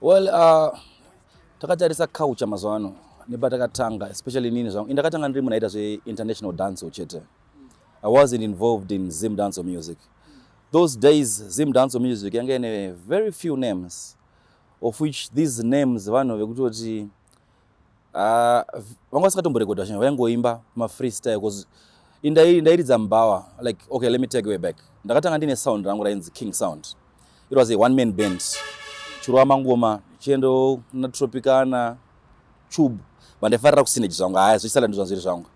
Well, uh, takatarisa culture mazuva ano nepatakatanga especially inini zvangu indakatanga ndiri munaita zveinternational dance chete i wasn't involved in zim dance music those days zim dance music yanga ine very few names of which these names vanhu vekutoti Ah, vanga vasingatomborekodha vachina vaingoimba mafree style bcause ndairidza mbawa like okay let me take way back ndakatanga ndine sound rangu rainzi king sound it was a one man band chirova mangoma chiendo na tropicana chub vandaifarira kusinage zvangu haya zvichisala ndizvanzviri zvangu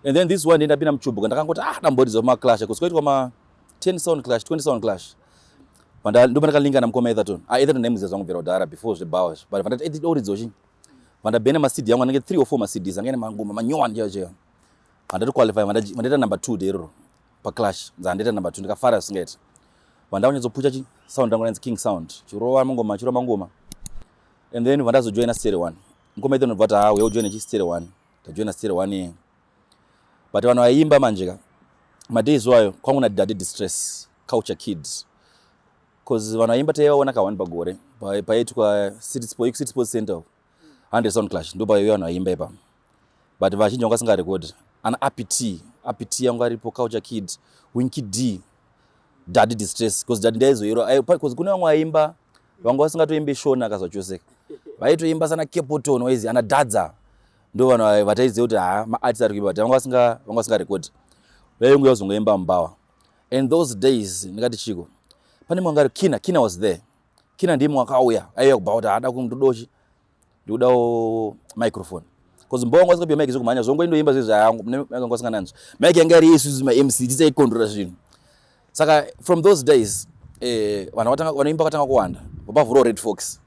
and then this one ndendapinda muchub kandakangoti ah damboridza kumaclash bcause kwaitwa ma 10 sound clash 20 sound clash vanda ndo vanda kalinga na mkoma Etherton a ah, Etherton name zizwa ngubvera udara before zve bawa but vanda edi dori dzochi vanda bene ma CD yangu anenge 3 or 4 ma CDs angene mangoma manyowa nje nje vanda to qualify vanda vanda ita number 2 dero pa clash nza ndeta number 2 ndikafara singeti vanda unyedzo pucha chi sound yangu nzi king sound chirowa mangoma chirowa mangoma and then vanda zo join a stereo one mkoma Etherton vata ha ah, we join chi stereo one ta join a stereo one but vanhu vaiimba manje ka madays iwayo kwangu nadaddy distress culture kids bcause vanhu vaiimba taivaona ka one pagore paitwa city sports center hundred sound clash ndo paive vanhu vaiimba ipa but vazhinji vanga singarekodi ana apt apt yangu aripo culture kid winky d daddy distress bcause daddy ndaizoyero bcause kune vamwe vaimba vanga vasingatoimbe shona akazvachoseka vaitoimba sana kepoton waizi ana dadza ndo vanhu ava vataiziva kuti haa maartist ari kuimba but vanga vasinga vanga vasinga rekodi vainguya kuzongoimba mubhawa and those days ndingati chiko pane mwe angari kina kina was there kina ndiye mwe akauya aiuya kubhawa kuti haada kundodochi ndikudawo microphone bcause mubhawa wanga vasingapiwa mike zvekumhanya zvongo indoimba zve zvayangu vanga vasinga nanzwi mike yanga iri isusu mamc tisaikondrora zvinhu saka from those days eh, vanhu vatanga vanoimba vatanga kuwanda vapavhurawo red fox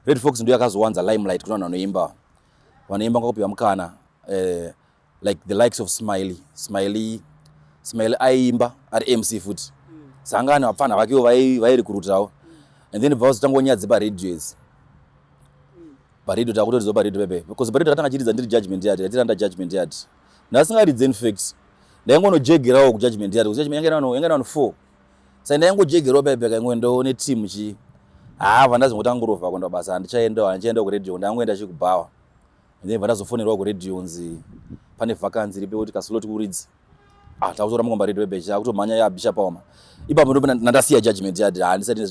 red fox ndiyo yakazowanza limelight kuna vanhu vanoimba vanoimba ngakupihwa mukana eh, like the likes of smiley smiley smiley aiimba ari mc futi mm. sangani vapfanha vakewo vairikurutawo mm. and then bva vazotangwa nyadzi paradio idzi mm. paradio takutoridzwa paradio pepe because paradio takatanga chiridza ndiri judgment yard yatiranda judgment yard ndasingaridze infact ndaingonojegerawo kujudgment yard kusi judgment yanga ina vanhu four sai ndaingojegerwa paipi akaingoe ndoone team chii haa vandazi ngokuti angurova kuenda basa handichaendawo handichaenda kuradio ndangoenda chi kubhawa then vandazofonerwa kuradio unzi pane vakanzi ripe kuti kaslot kuridzi ah takutora mukomba redu webecha akutomhanya ya bisha paoma ipapo ndipo ndandasiya judgment yard ha ah, ndisati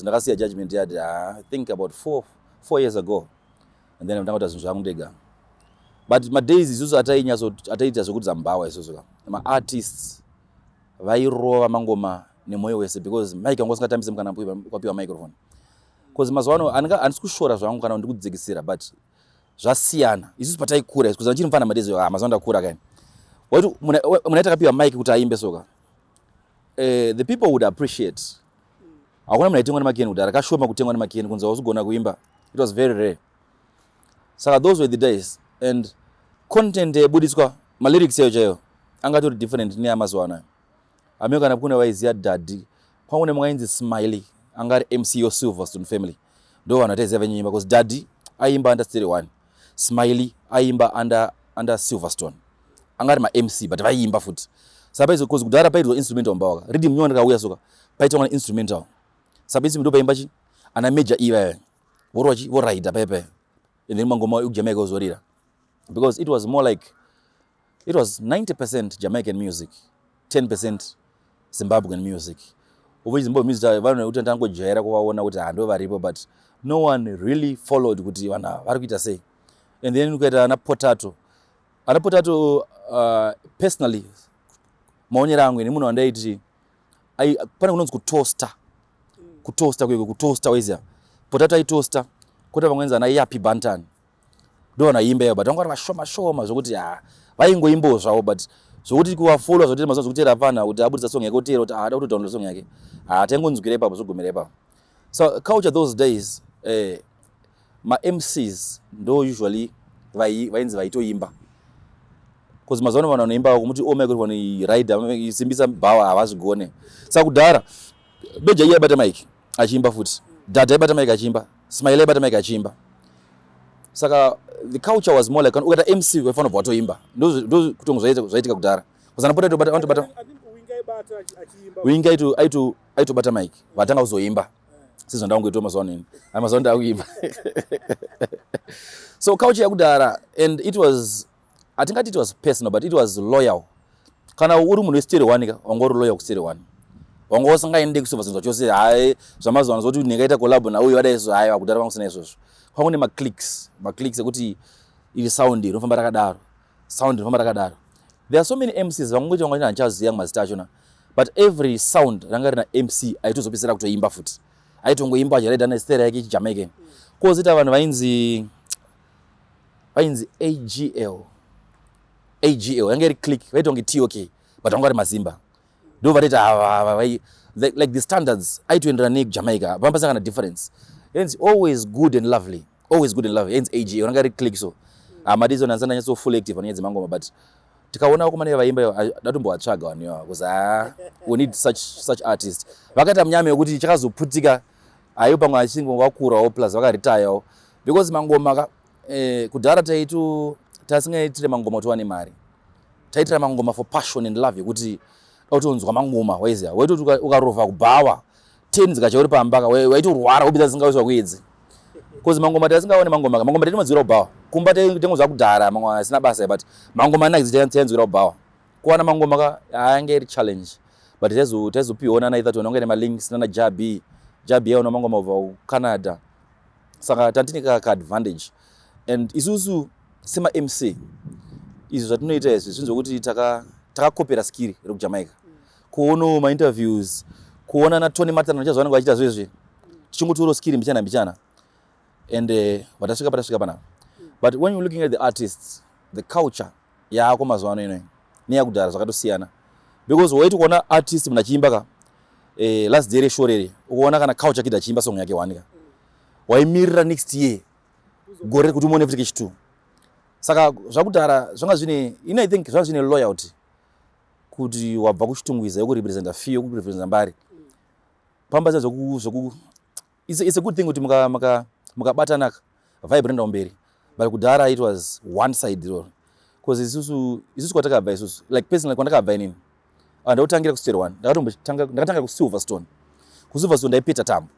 ndakasiya judgment yard ha ah, i think about four, four years ago and then ndanga kuti zvinhu zvangu ndega but madays isusu atainyatso ataita zvekuti zambhawa isusu ka maartists vairova mangoma nemwoyo wese because mike wanga usingatambise mukana kwapiwa microphone bcause mazuva ano handisi kushora zvangu kana ndikudzikisira but zvasiyana isusu pataikura bcause achiri mufana madezi ah, mazuva ndakura kaini waiti muna takapiwa mike kuti aimbe soka eh, the people would appreciate hakuna munhu aitengwa nemakeni kudhara kashoma kutengwa nemakeni kunzi wausugona kuimba it was very rare saka those were the days and content yaibuditswa malyrics ayo chaiyo angatori different neamazuva anayo amiyo kana kune vaiziva dadhi kwangu ne mwainzi smiley anga ari mc yo silverstone family ndo vanhu ataiziva venyunyimba because dadhi aiimba under stere one smiley aiimba under, under silverstone anga ari mamc but vaiimba futi sapaizvo bcause kudhara paidzwa instrumental mbawaka ridi mnyona rakauya soka paitwa kana instrumental sapaizvi ndo paimba chi ana major ivaya vorochi voraida paye paye and then mangoma ekujamaica ozorira because it was more like it was 90 percent jamaican music 10 percent zimbabwean music ovechi zimbabwe music vanhu kuti tangojaira kuvaona kuti hando varipo but no one really followed kuti vanhu ava vari kuita sei and then ukaita ana potato ana potato uh, personally maonero angu ini munhu wandaiti ai pane kunonzi kutosta kutosta kuye kutosta waiziva potato aitosta kota vamwe nzana iyapi bantan ndo vana imba iyo but vanga vari vashoma shoma zvokuti ha vaingoimbawo zvavo but zvokuti kuvafollowa zvokuti mazuva zvokuteera pfanha kuti abudisa song yake oteera kuti haada ah, kutodownload song yake ha ah, taingonzwira ipapo zvogumira ipapo So culture those days eh, ma MCs ndo usually vainzi vaitoimba because mazuva ano vanhu vanoimba vakumuti ome oh, kuti vani rider simbisa bhawa havazvigone saka kudhara beja iye aibata mike achiimba futi dhadha aibata mike achiimba smile aibata mike achiimba saka the culture was more like ukata mc waifanira kubva watoimba ndokutongozvaitika kudhara kusanapota aitobata winga aitu aitobata mic vatanga kuzoimba sezvandakungoitwa mazuva ano ini ai mazuva ndakuimba so couch yakudhara and it was hatingati it was personal but it was loyal kana uri munhu westere one ka wanga uri loyal kustere one wanga usingaende kusovazinzwa chose hayi zvamazuva ano zvokuti ndingaita collabo nauyo vada izvo hayi vakudhara vanga usina izvozvo kwanga une maclicks maclicks ekuti iri sound rinofamba rakadaro sound rinofamba rakadaro there are so many mcs vangongoita vanga handichaziva mazita achona but every sound ranga rina mc aitozopedzisira kutoimba futi aitongoimba achiraida nestera yake chijamaican mm. kozoita vanhu vainzi vainzi agl agl yanga iri click vaitonge tok but vanga vari mazimba ndo vatoita hava like the standards aitoenderana nejamaica panga pasangana difference hence always good and lovely always good and lovely hence ag ranga ri click so hamadi zona ndisana nyatso full active panyaya dzemangoma but tikaona vakomana vevaimba ivo datombovatsvaga vanhu ivavo bcause ha we need such, such artist vakaita munyama yekuti chakazoputika aivo pamwe achinge vakurawo plus vakaritayawo because mangoma Eh, kudhara taitu tasingaitire mangoma kuti wane mari taitira mangoma for passion and love yekuti utonzwa mangoma waiziva waitoti ukarova kubhawa ten dzikacha uri pamba ka waitorwara wobida dzisingawiswa kuedzi bcause mangoma taisingaone mangoma ka mangoma taitomanzwira kubhawa kumba taingozva kudhara mangoma asina basa but mangoma anakidzi tainzwira kubhawa kuwana mangoma ka ayange iri challenge but taizopiona naitha tiona kunge nemalinks nana jabi jabi yaona mangoma ubva kucanada saka tatine ka kaadvantage and isusu semamc izvi zvatinoita izvi zvinhu zvekuti takakopera taka skiri rekujamaica kuonawo mainterviews kuona natony martin achazo vanenge vachiita zvezvi tichingotioro skiri mbichana mbichana and eh, vatasvika patasvika panapa but when you looking at the artists the culture yaako mazuva ano inoyi neyakudhara zvakatosiyana because waiti kuona artist munhu achiimba ka eh, last day reshorere ukuona kana couch akida achiimba song yake one ka waimirira next year gore kuti umone futi kechitwo saka zvakudhara zvanga zvine ini i think zvanga zvine loyalty kuti wabva kuchitungwiza yokurepresenta fee yokurepresenta mbari pamba zia zvoku It's, it's a good thing kuti mukabatana muka, muka ka vibe rinoenda kumberi but kudhara it was one side iroro bcause isusu isusu kwatakabva isusu like personally kwandakabva inini ah, ndautangira kustere one ndakatanga kusilverstone kusilverstone ndaipeta tambo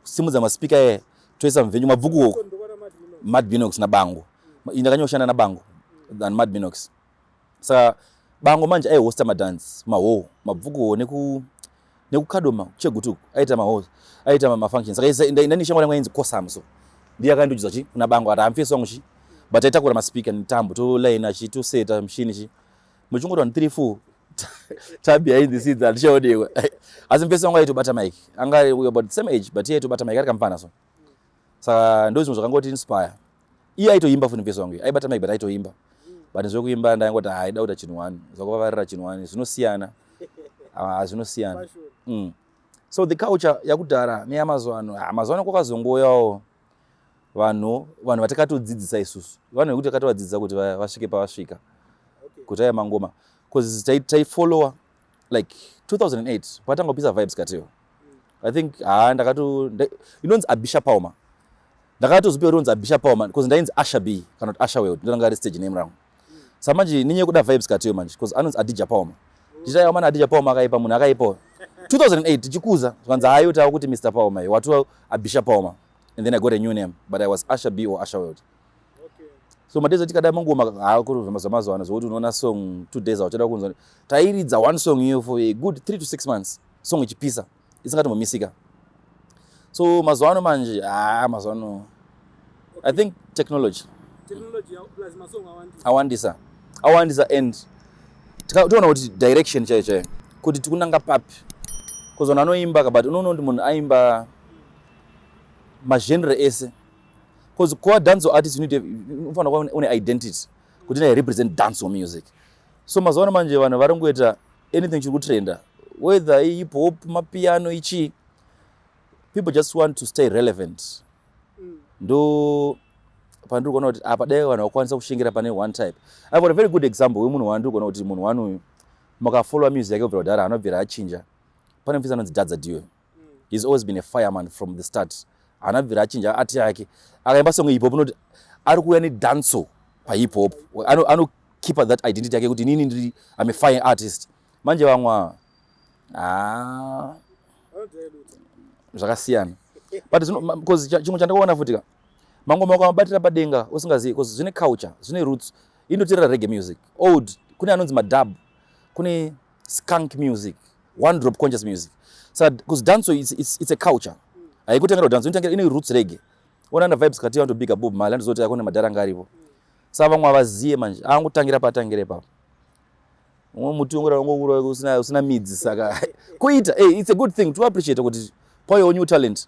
kusimudza maspika e toisa mvenyu mabvuku oko madbinox nabango ndakanyoshanda nabango than madbinox saka bango manje aihosta madance mahowo mabvukuho neku nekukadoma chegutuku aita mahowo aita mafunction saka ndani shamwari yangu yainzi kosam so ndiye akandiudza chi kuna bango ati hamfie song chi but aitakura maspeaker netambo toline achi toseta mshini chi muchingoti vanhu 3 4 tabi ayi this is atichaonekwa asi mfie song aitobata mike anga about the same age but iye aitobata mike ari kamfana so saka ndozvimwe zvakangoti inspire iye aitoimba funi vhesi wangu aibata mike but aitoimba but zvekuimba ndaingoti haida kuita chinhu wani zvakuvavarira chinhu wani zvinosiyana ah, zvinosiyana mm. so the culture yakudhara neyamazuva ano ah, mazuva ano kwakazongoyawo vanhu vanhu vatakatodzidzisa isusu vanhu vekuti takatovadzidzisa kuti vasvike pavasvika kuti aya mangoma bcause taifollowa like 2008 patanga kupisa vibes kateo i think ha ndakato inonzi abisha pauma ndakatozopiwa rinonzi abisha pauma bcause ndainzi asha b kana kuti asha world ndonanga ari stage name rangu sa manje ninye kuda vibes kateo manje bcause anonzi adija pauma ndichitaiwa mana adija pauma akaipa munhu akaipawo 2008 tichikuza zvanzi hayo tawa kuti mr pauma watiwa abisha pauma and then i got a new name but i was asha b or asha world so madays atikada mangoma hakuruzvamazuva ano zvokuti unoona song two days auchada kunzwa tairidza one song iyo for a good three to six months song ichipisa isingatombamisika so mazuva ano manje haa ah, mazuva ano i think technology awandisa awandisa and toona kuti direction chaiyo chaiyo kuti tikunanga papi bcause vanhu anoimba ka but unoona kuti munhu aimba magenre ese Because core dance artist you need to unofanira kuva une identity kuti I represent dance or music. So mazuva ano manje vanhu vari kungoita anything chiri kutrenda whether hip hop mapiano ichi people just want to stay relevant. Mm. Ndo pandiri kuona kuti apa dai vanhu vakwanisa kushingira pane one type. I've got a very good example wemunhu wandiri kuona kuti munhu wani uyu makafollowa music yake kubvira kudhara anobvira achinja. Pane mufisi anonzi Dadza Diwe. he's always been a fireman from the start haana bvira achinja ati yake akaimba song hip hop unoti ari kuuya nedanso pahip hop anokeepa ano that identity yake kuti inini ndiri am a fire artist manje vamwa ah. zvakasiyana but bcause chimwe chandakaona futi ka mangoma ukamabatira padenga usingazivi bcause zvine culture zvine roots inoterera rege music old kune anonzi madub kune skunk music one drop conscious music sa cuz danso it's, it's, it's a culture haikutangira danso inotangira ine roots rege ona na vibes kati vantu bigger bob mali andizoti akone madhara ngarivo sa vamwe avaziye manje angutangira patangire papo umwe muti ungura ungura usina usina midzi saka kuita hey, it's a good thing to appreciate kuti payo new talent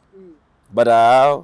but uh,